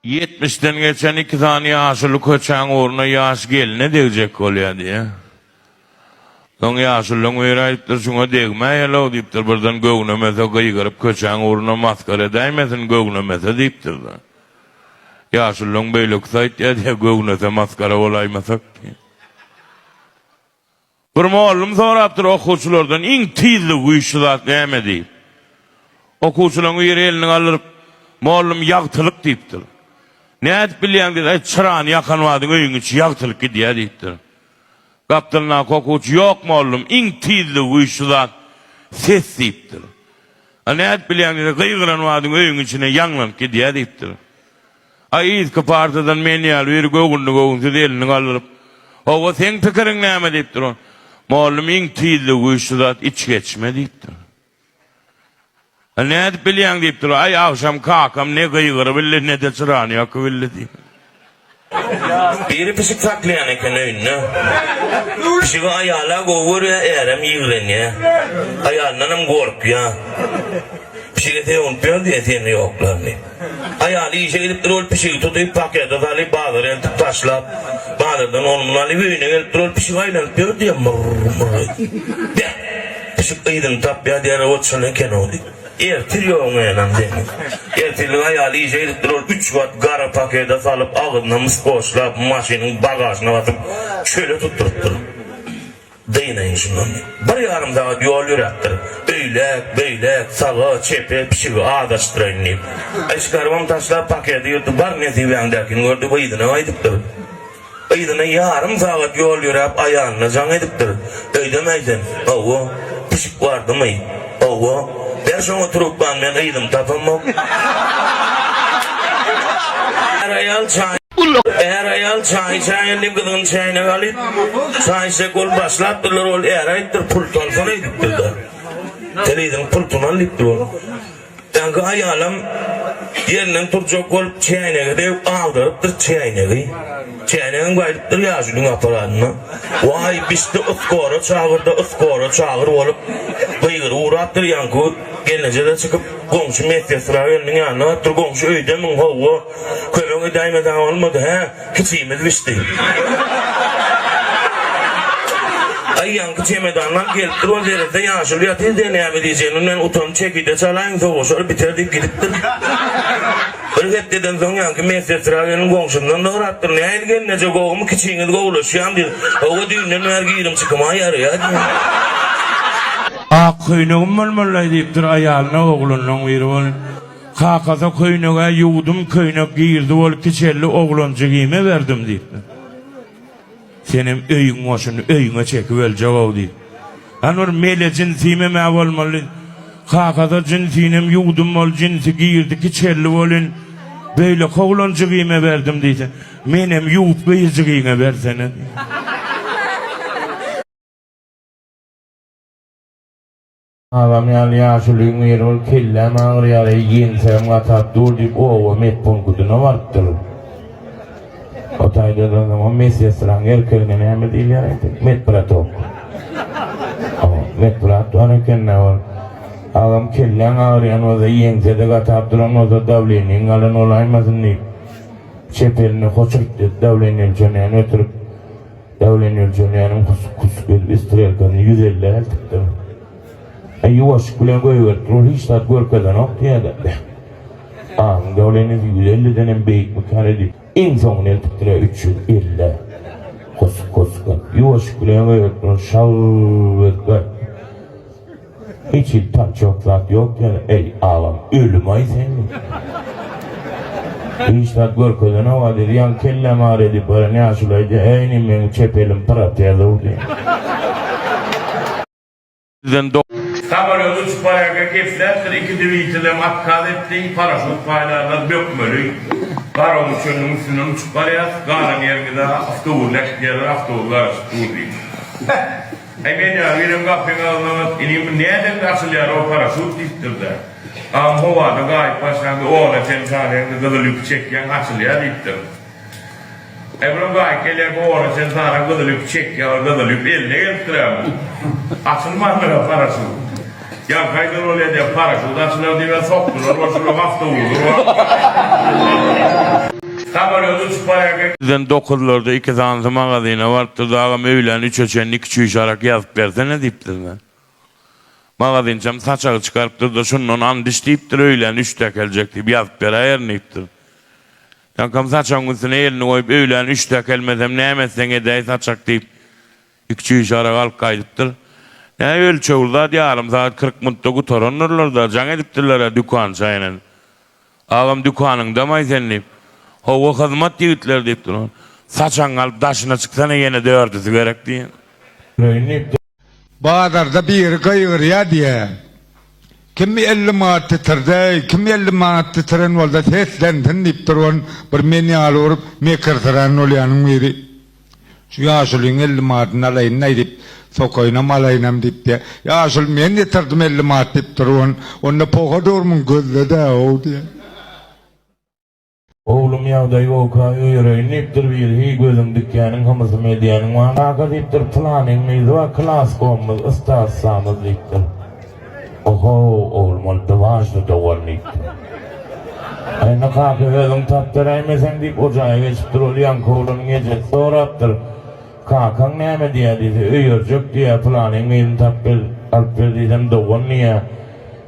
Ýetmişden geçen iki sany ýaşuly köçäň ugruna ýaş gelne degjek bolýar diýýär. Soň ýaşulyň biri aýdypdyr, Şuňa degmäýel-ow diýipdir, birden göwnemese gygyryp köçäň ugruna masgara edäýmesin, göwnemese diýipdir-de. Ýaşulyň beýlekisi aýtýar diýýär, Göwnese masgara bolaýmasak diýýär. Bir mugallym sorapdyr okuwçylardan, Iň tizligi güýçli zat näme? diýip. Okuwçylaryň biri elini galdyryp, Mugallym, ýagtylyk diýipdir. Nädip bilýäň diýdi, Aý, çyrany ýakan badyň öýüň içi ýagtylyk gidýär diýipdir. Gapdalyndaky okuwçy, Ýok, mugallym, iň tizligi güýçli zat ses diýipdir. A nädip bilýäň diýdi, Gygyran badyň öýüň içine ýaňlanyp gidýär diýipdir. A yzky partadan men ýaly biri göwünli-göwünsiz elini galdyryp, Hawa, seň pikiriň näme? diýip duran. Mugallym iň tizligi güýçli zat, içgeçme diýipdir. A nädip bilýäň? diýip dur. Aý, agşam kakam ne gygyrybildi, ne-de çyrany ýakybildi diýip. Biri pişik saklaýan eken öýünde. Pişigi aýal-a gowy görýär, ärem ýigrenýär. Aýalyndanam gorkýar. Pişige sögünip ýör diýen seni ýoklar diýip. Aýaly işe gidipdir, ol pişigi tutup, pakete salyp, bazara eltip taşlap, bazardan ony-muny alyp, öýüne gelipdir, ol pişik aýlanyp ýör diýýär, myrr-myrr edip. Beh, pişik yzyny tapýar diýýär, ot şol eken-ow diýip. Ertir ýok menem diýýär. Ertirlik aýaly işe gidipdir, ol üç gat gara pakete salyp, agzyna mys goşlap, maşynyň bagažyna basyp, çöle tutdurypdyr. Dynaýyň şundan. Bir ýarym sagat ýol ýöräpdir. Öýläk, beýläk, saga, çepe, pişigi azaşdyraýyn diýip. Eşikarbam taşlap paketi ýyrdy, bar nesibäňdäkini gördi we yzyna gaýdypdyr. Yzyna ýarym sagat ýol ýöräp aýalyna jaň edipdir. Öýdemäý sen. Hawa, pişik bardymy? Hawa, ber şoňa trubkany men gyzymy tapamok. Är aýal çaý Är aýal çaý içäýen diýip gyzyny çäýnege alyp çaý içjek bolup başlapdyrlar ol är aýypdyr pul salsana edipdirda. Sen yzyň pultuny al diýipdir ol. Dagy aýalam ýerinden turjak bolup çäýnege degip agdarypdyr çäýnegi. Çäýnegem gaýdypdyr ýaşulyň aparanyna. Waý, bişdi yskora çagyr-da, yskora çagyr bolup, gygyryp ugrapdyr. Ýaňky gelneje-de çykyp, goňşy medsestra gelniň ýanyna barypdyr. Goňşy öýdemiň, howwa, kömek edäýmeseň bolmady, hä? Kiçimiz bişdi. Aý ýaňky çemedanlar gelip dur ol derede ýaşuly ýatyr diýe näme diýjegini bilmän utanyp çekirde çalaýyň soguşar biter diýip gidipdir. Bir hepdeden soň ýaňky medsestra gelin goňşundan sorapdyr nähili gelneje gowumy kiçiňiz gowulaşýamy diýip Hawa düýnden bäri girim çykymam ýarýa diýen. Ak köýnegim bolmalylaý diýipdir aýalyna oglanlaň biri bolup. Kakasy köýneg-ä ýuwdum, köýnek girdi bol, kiçeldi oglan jigime berdim, diýipdir. Senem öýüň goşuny öýüňe çekip öljeg-ow, diýip. Ýöne bir mele jinsimem-ä bolmaly. Kakasy jinsinem ýuwdum bol, jinsi girdi, kiçeldi bolyn, beýleki oglan jigime berdim diýse, menem ýuwup gyz jigiňe bersene, diýipdir. Agam ýaly ýaşulyň ýeri ol kelläm agyrýar eý ýeňsäm gatap dur diýip oba medpunkudyna barypdyr. O taýda duranyň o medsestraň erkegine näme diýilýär aýt medbratok. O medbrat bar ekendä ol. Agam kelläň agyrýan bolsa ýeňsede gatap duran bolsa dawleniň galan bolaýmasyn diýip çep elini hoçurt dawleni ölçeneni ötürip Däwlen ölçemäniň küsgül strelkasyny ýüz elli eltipdim. E, ýuwaşlyk bilen goýberipdir, ol hiç zat görkezenokdy ýa-da. Agyň däwlenisi ýüz ellidenem beýikmikä diýip, iň soňuny eltipdir-ä, üç ýüz elli. Husgusga. Ýuwaşlyk bilen goýberipdir, ol şal-l-l-l berk berk. Hiç hil tançok zat ýok ýaly, eý, agam, ölümaý senmi? Hiç zat görkezenok-a, diýdi, ýaňy kellämi ar edip gören ýaşulaýdy, eý, ine, meň çep elim protezow, diýdi. Sizden do. Samolýot uçup barýarka gepläpdir, iki dwitelem otkaz etdi, paraşut paýlarlar bökmeli, garawul çölüniň üstünden uçup barýas, galan ýeriňiz-ä awtobus äkidýärler, awtobus garaşyp dur, diýdi. Äý men-ä, welin gapyň agzynam-at, ine indi nädende açylýar ol paraşut diýipdir-de, Agam howada gaýyp başlaňda ogla sen sanaýaňda gyzyl ýüpi çekýäň, açylýar diýipdir. Äý bulam gaýyp gelýärkä ogla sen sanaň gyzyl ýüpi çekýär, ol gyzyl ýüp eline gelipdir-ä muň. Açylmandyr-a paraşut. Ýaňkaýdan ol ede paraşut açylar diýibem sokdular, bolşular awtoulag urarlar. Samolýot uçup barýarka. Bizden dokuzlarda iki sany magazyna baryp durdy, Agam öýlän üçe çenli iki çüýş arak ýazyp bersene diýipdir men. Magazynçam saçagy çykarypdyr-da, şundan andiş diýipdir, öýlän üçde äkeljek diýip ýazyp beräýerin diýipdir. Ýaňkam saçagyň üstüne elini goýup, öýlän üçde äkelmesem näme etseň edäý saçak diýip, Ikjüýş ara galk gaýdypdyr. Näý ölçegli zat ýarym sagat kyrk muntda gutarandyrlar-da, jaň edipdirler-ä dükan çaýynan. Agam dükanyňdamaý sen diýip. Howwa hyzmat ýigitler diýipdir ol. Saçagyňy alyp daşyna çyksana ýene dördüsi gerek diýen. Öýün diýipdir. Bazarda biri gygyrýa diýe. Kim elli manat ditirdeý, kim elli manat ditiren bolsa seslensin diýipdir ol bir men ýaly bolup mekirsyran bolýanyň biri. Şu ýaşulyň elli madyny alaýyn-laý diýip, sokaýynam alaýynam diýipdi. Ýaşuly, Men getirdim elli manat diýip durubyn. Onda poha durmyň, gözle-dä-ow diýýär. Oglum, ýagdaý bolka öýereýin diýipdir biri. Heý, gözüň dikýäniň, hymysymy edýäniň bar. Kaka diýipdir, Pylanyň myzy bar, klaskomymyz, ystaslamyz diýipdir. Oho, oglum, ol biwaždy dogan, diýipdir. Aýna kaka özüň tap beräýmeseň diýip, o jaýa geçipdir. Ol ýaňky oglanyň ejesi sorapdyr, Kakaň näme diýýär diýse, Öýerjek diýýär, pylanyň gyzyny tap ber, alyp ber diýsem, dogan diýýär,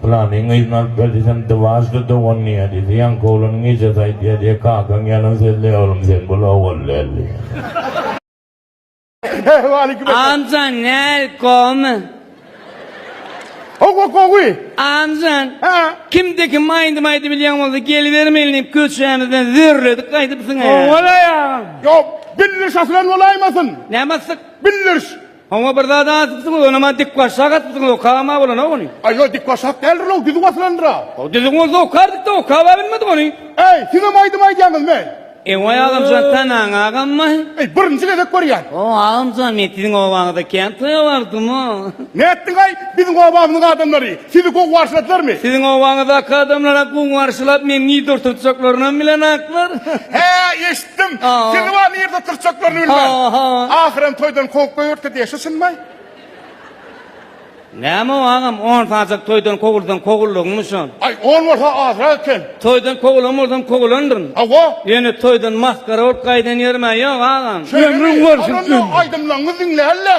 pylanyň gyzyny alyp ber diýsem, biwaždy dogan diýýär diýse, ýaňky oglanyň ejesi aýdýar diýýär, Kakaň ýalan sözleýär, oglum, sen bul ogul däl diýýär. Waleýkim Amca näl gowymy? Gowy gowy. Amcan. Ha. Kimde kim aýdym aýdyp bilýän bolsa gelibermeli diýip köçämizden zürledik gaýdypsyň. Oňala ýaňam. Ýok. Bildiriş asylan bolaýmasyn? Näme asdyk? Bildiriş. Oňa bir zat asypsyň, ony maňa dik başak atypsyň, okama bolana ony. Aý ýok dik başak däldir ol, düzüw asylandyr-a. Düzüw bolsa okardyk-da, okaba bilmedik ony. Äý, siz hem aýdym aýdýaňyzmy? Ewaý agamjan tanaň agammy. Eý birinji gezek görýän. O agamjan men siziň obaňyza kän toýa bardymyy. Nätdiňaý biziň obamyzyň adamlary sizi gowy garşyladylarmy. Siziň obaňyzdaky adamlarak gowy garşylap meni nirde oturtjaklarynam bilenaklar. Hä eşitdim. Sizi bar nirde oturtjaklaryny bilmän. Ahyram toýdan kowup goýberdi diýe şu çynmy. Näme o agam on sajak toýdan kowulsaň kowuldyňmy şol. Aý on bolsa azrak eken. Toýdan kovulan bolsam kovulandyryn. Hawa. Ýöne toýdan masgara bolup gaýdan ýerimä ýok agam. Ömrüň bolsun ömrüň. Aýdymlaňňy diňlälä.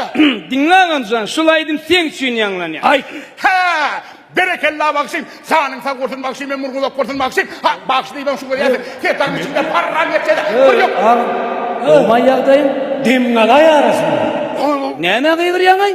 Diňle agamjan şul aýdym seň üçin ýaňlanýa. Aýt. Hää! Berekella bagşym! Janyň sag bolsun bagşym ömrüň uzak bolsun bagşym! Ha, bagşy diýibem şu görýärsiň, setagyň içinde parran geçse-de, bir ýok! Öww, agam, gowmaý ýagdaýyň, demiň alaý arasynda. Näme gygyrýaňaý?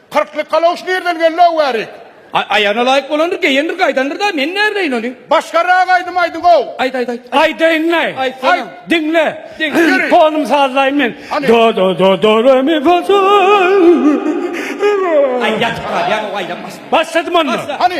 Kyrklyk galoş nirden geldi Awarik. Aý aýagyna laýyk bolandyr geýendir gaýdandyr da men näbileýin ony. Başgarak aýdym aýdyňow. Aýt aýt aýt. Aýdaýynlaý. Aýtsana. Aýt. Diňle. Diň. Ýöri. Tonumy sazlaýyn men. Hany. Do do do do re mi fa sol. Aý ýatyp galýaň ow aýlanmasyn. Başladym onda. Başla. Hany.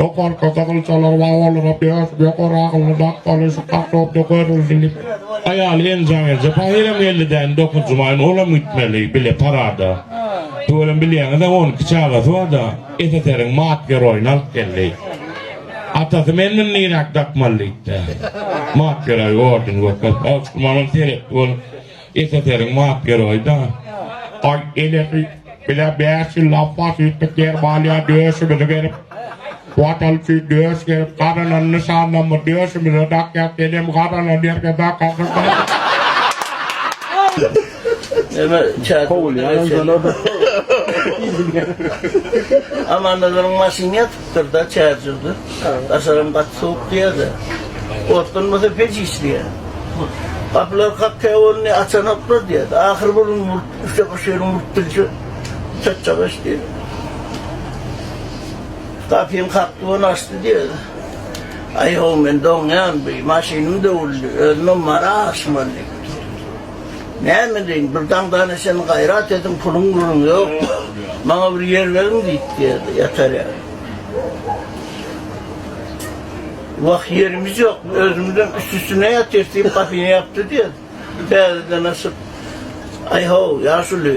Ýokarky gyzylçalar we olaryň dört ýokary aglyny dakmaly şu kartopda görüldi diýip, aýaly enjam edýär. Pahyram geldi däne dokuz jumaýyn olam gitmeli bile parada. Tüweleme bilýäňiz-ä on iki çagasy bar-da, SSR-iň mat geroýyny alyp geldi. Atasy men muny niräk dakmaly diýipdi. Mat geroýy ordeni görkezip, Awçyk Mamal seretdi bolup, SSR-iň map ýeroýda. Aý, elesi, bize bäş ýyl lapbas üýtdük ýer balýa döşümizi gerip, Watan üçin döş gerip, gazanan nyşanlamyz döşümize dakýas, sen hem gazanan ýerge dakasyn. Neme çaýy Kowulýan, Amanda durun maşyn ýat. Syrda çärjewdir. Daşaram gaty sowuk diýýärdi. Otlanmasa peç iç diýýärdi. Gapylar kak kä boldy, açanoklar diýýärdi. Ahyr bir gün muryp, üçe bir şeýle muryp bilse, çatjak iş diýdi. Gapyny kakdy we ony açdy diýýärdi. Aý-ho, men doňýan, bir maşynym döwüldi, özümem mara aşmaly. Näme edin, bir daňdan eşen gaýrat edin, puluň buluň ýok. Maňa bir ýer beriň diýip geldi, ýatarýa. Wah, ýerimiz ýok, özümizem üst-üstüne ýatyrys diýip, gapyny ýapdy diýdi. Täzeden açyp, Aý-how, ýaşuly!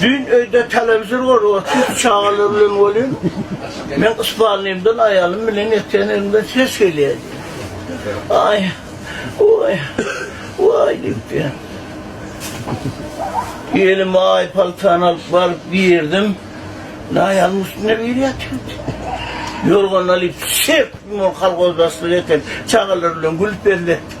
Düýn öýde telewizor gorup otyr, çagalar bilen bolýan. Men yspalnymdan aýalym bilen ýatýan ýerimden ses gelýär. Aý, oý, waý diýipdir. Gelin aý paltany alyp baryp girdim. Aýalym üstünde biri ýatyrdy. Ýorganyny alyp, şep, kolgozdaşlyk etip, çagalar bilen gülüp belletdik.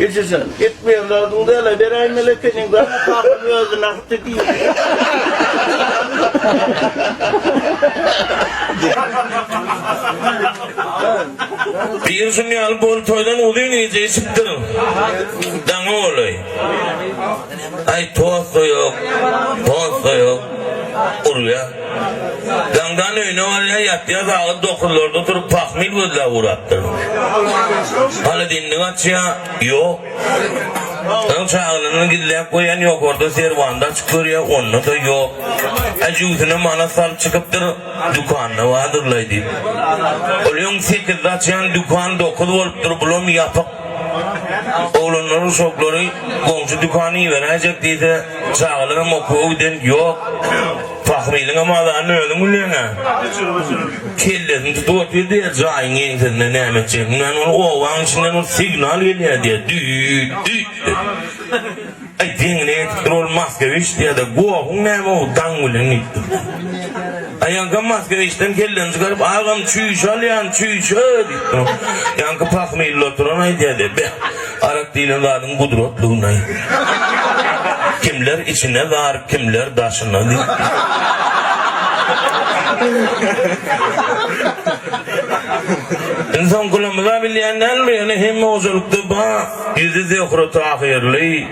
Eje jan, etmeýärlerdiň däl-ä, beräý Melekeniň dana pahyny özüne ahdi diýdi. Pir şuny ýaly bol toýdan uzyn gije içipdir. Daňy bolaý. Aý tostoýok, tostoýok, urýa. Daňdan öýüne barýa, ýatýa, sagat dokuzlarda turup pahmil gözläp urapdyr. Hany dindik açýa, ýok. Öň çagalaryny gizläp goýan ýokarda serwanda açyp görýä, onda-da ýok. Hä jübüsine manat salyp çykypdyr, dükanda bardyrlaý diýip. Ol öň sekizde açýan dükan dokuz bolupdyr, bulam ýapyk. Oglanlaryň şoklary goňşy dükana iberäýjek diýse, çagalaram okuwa giden ýok. Pahmylyňam azany özüň bilýäň-ä. Kellesini tutup otyr diýýär, jaýyň ýeňsesinde näme etjegini bilmän, ol obaň içinden bir signal gelýär diýýär, düýt-düýt diýip. Aý deňine ýetipdir ol Moskewiçdi ýa-da Gohuň näme o daň bilen diýip durdy. Aýaňka Moskewiçden kelleni çykaryp agam çüýşe alýan çüýşe diýip dur. Ýaňky pahmilli oturan aýdýady be arak diýlen zadyň gudratlygyny. Kimler içine zar kimler daşyna diýip. Indi soň gulumyza bilýän däldir ýöne hemme hojalykda bar. Ýüzi Zöhre Tahyrly,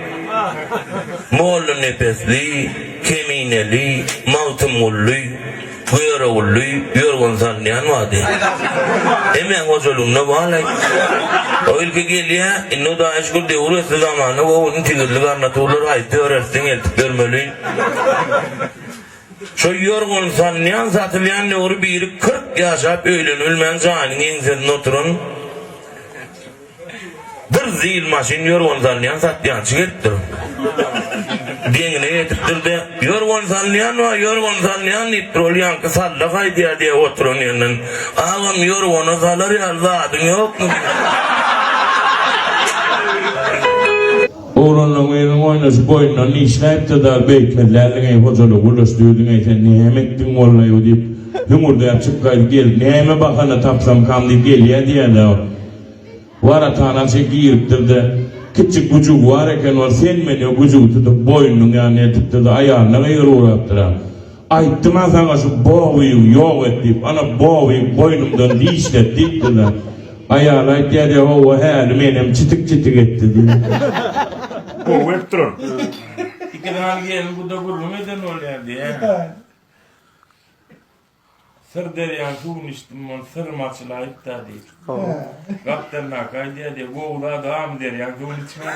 mollanepesli, kemineli, Magtymgully, Görogully, ýörgün salynýan bady. Hemmäň hojalygynda balaý. O ilki gelýä, indi Hudaýa şükür döwür ösdi zamana gowuny tigirli garnaturlar haýsy döretse eltip bermeli. Şo ýörgün salynýan satylýan döwri biri kyrk ýaşap öýlenibilmän jaýynyň eňsesinde oturan, Bir zil maşyn ýorgan salýan satýançy gelipdir. Deňine ýetipdir-de, Ýorgan salýan bar, ýorgan salýan diýipdir. Ol ýaňky salla gaýdýar diýip oturan ýerinden, Agam, ýorgana salar ýaly zadyň ýokmy? Oglanlaň biriniň oýnaşy boýnundan dişläýipdir-de, Beýtmezländiň-eý, hojalygy gürleşdirdiň-eý, sen näme etdiň bolnaýw? diýip, hüňürdäp çykgaýdy gelip, Näme bahana tapsamkam diýip gelýä diýýär-dä ol. Waratanasy giripdir-de, kiçi güjügi bar eken, ol sen meni güjügi tutup, boýnunyň ýanyna eltipdir-de, aýalyna gygyryp ugrapdyr-a. Aýtdym-a saňa şu Bobygy ýok et diýip, ana, Bobygy boýnumdan dişlet diýipdir-de. Aýaly aýtýar, Ýa-hawa, häli menem çitik-çitik etdi diýip. Gowy gelip durar. Iki sany gelin guda gürrüň eden bolýar diýýär. Syr derýaň suwuny içdim, ol syrymy açylaýyp-da, diýip. Gapdaldaky aýdýar, diýip, Gowy zat, amy derýaň suwuny içmän.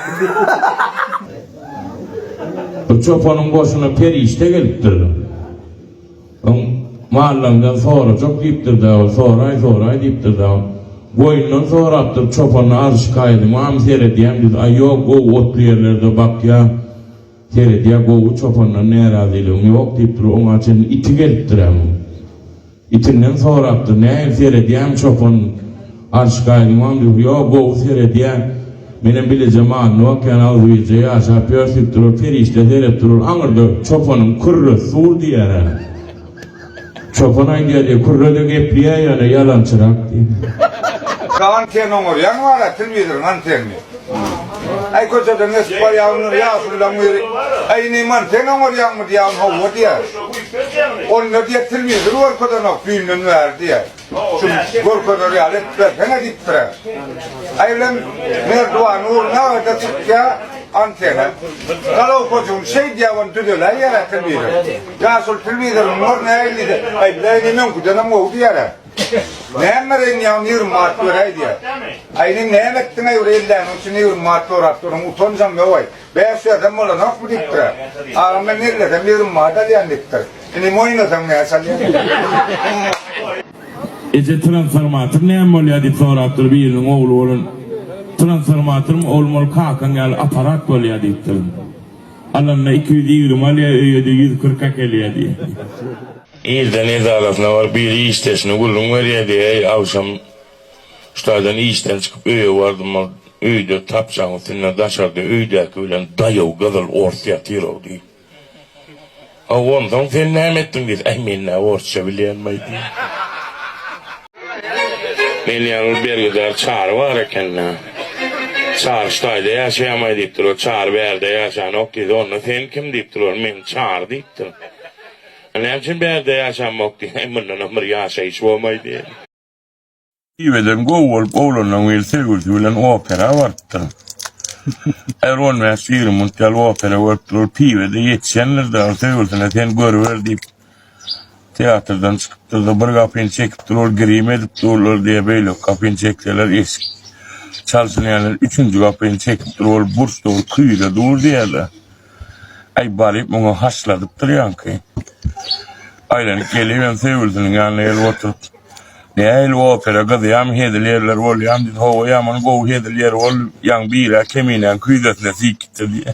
Bu çopanyň goşuna perişde gelipdir. Oň mallaňdan sorajak diýipdir-de, ol soraý, soraý diýipdir-de, goýundan sorapdyr, çopan, Arşykaýylymy amy seredýäňdiz, aý, ýok, gowy otly ýerlerde bakýa, Seredýä gowy çopandan närazylygyň ýok diýip dur oňa çenli iti gelipdiräm. Itinden sorapdyr nähili seredýäň çopan arş gaýdymam diýip ýok gowy seredýä menem bileje manyny okýan agzybirje ýaşap ýörs diýip dur ol perişde serep durur aňyrda çopanyň kürresi dur diýerä. Çopan aýdýar, e, kürrede gepleýär ýa-da ýalançyrak diýip. Salam sen oňarýaň wara telwizoryň antenini. Aý köçeden geçip barýaňmy ýaşullaň biri aý ine man sen oňarýaňmy diýýän howwa diýýär. Onda diýýär telwizor görkezenok düýnden bäri diýýär. Şu görkezer ýaly edip berseňe diýipdir-ä. Aýlem Merdiwan Nurnaga-da çykýa antena. Galaw hojam şeý diýýä, ony düzeläý ýa-da telewizor. Ýa şol telewizoryň nuruna elli-de, elli-de indi meňküdenem gowy diýýär-ä. Näme bereýin ýa ýigrimi manat beräý diýýä. Aýlem näme etdiň-eý bir elläniň üçin ýigrimi manat sorap durun, utanjaň ýowaý. Bäş ýazam bolanokmy diýipdir-ä. Agam men ellesem ýigrimi manat alýan diýipdir. Indi moýnasaň näçe alýan? Eje transformator näme bolýar diýip sorapdyr biriniň ogly bolan transformatormy oglum ol kakaň ýaly aparat bolýar diýipdir. Alanda iki ýüz ýigrimi alýar öýede ýüz kyrk äkelýär diýýär. Irden edarasyna baryp biri işdeşine gürrüň berýär diýýär, agşam Şu taýdan işden çykyp öýe bardym-a, öýde tapjaň üstünde daşarda öýdäki bilen daýaw gyzyl ors ýatyr-ow diýip. A onsoň sen näme etdiň diýse, Äý men nä orsça bilýänmaý diýip. Men ýaly bir bergüzar Çary bar eken-dä. Çary şu taýda ýaşaýamaý diýipdir. Ol Çary bärde ýaşanok diýse, onda sen kim diýipdir. Ol men Çary diýipdir. A näme üçin bärde ýaşanmok diýse, Äý mundanam bir ýaşaýyş bolmaý diýip. Tüýbeden gowy bolup oglanlaň biri sevgilisi bilen opera barypdyr. Her on bäş ýigrimi minut ýaly opera görüpdir ol piwede ýetişendirde ol söýgülisine sen görüber diýip teatrdan çykypdyrda bir gapyny çekipdir ol grim edip durlar diýe beýleki gapyny çekseler eşik çalşyny ýaly üçünji gapyny çekipdir ol burçda ol küýze dur diýede. Äý, balyp, muňa haşladyp durýaňky? Aýlanyp gelip hem söýgülisiniň ýanynda gelip oturypdy. Nähili opera, gyzýamy, hezil ýerler bolýamy diýdi. Hawa, ýaman gowy hezil ýeri boldy. Ýaňy bir-ä Keminäň küýzesine siýkitdi diýdi.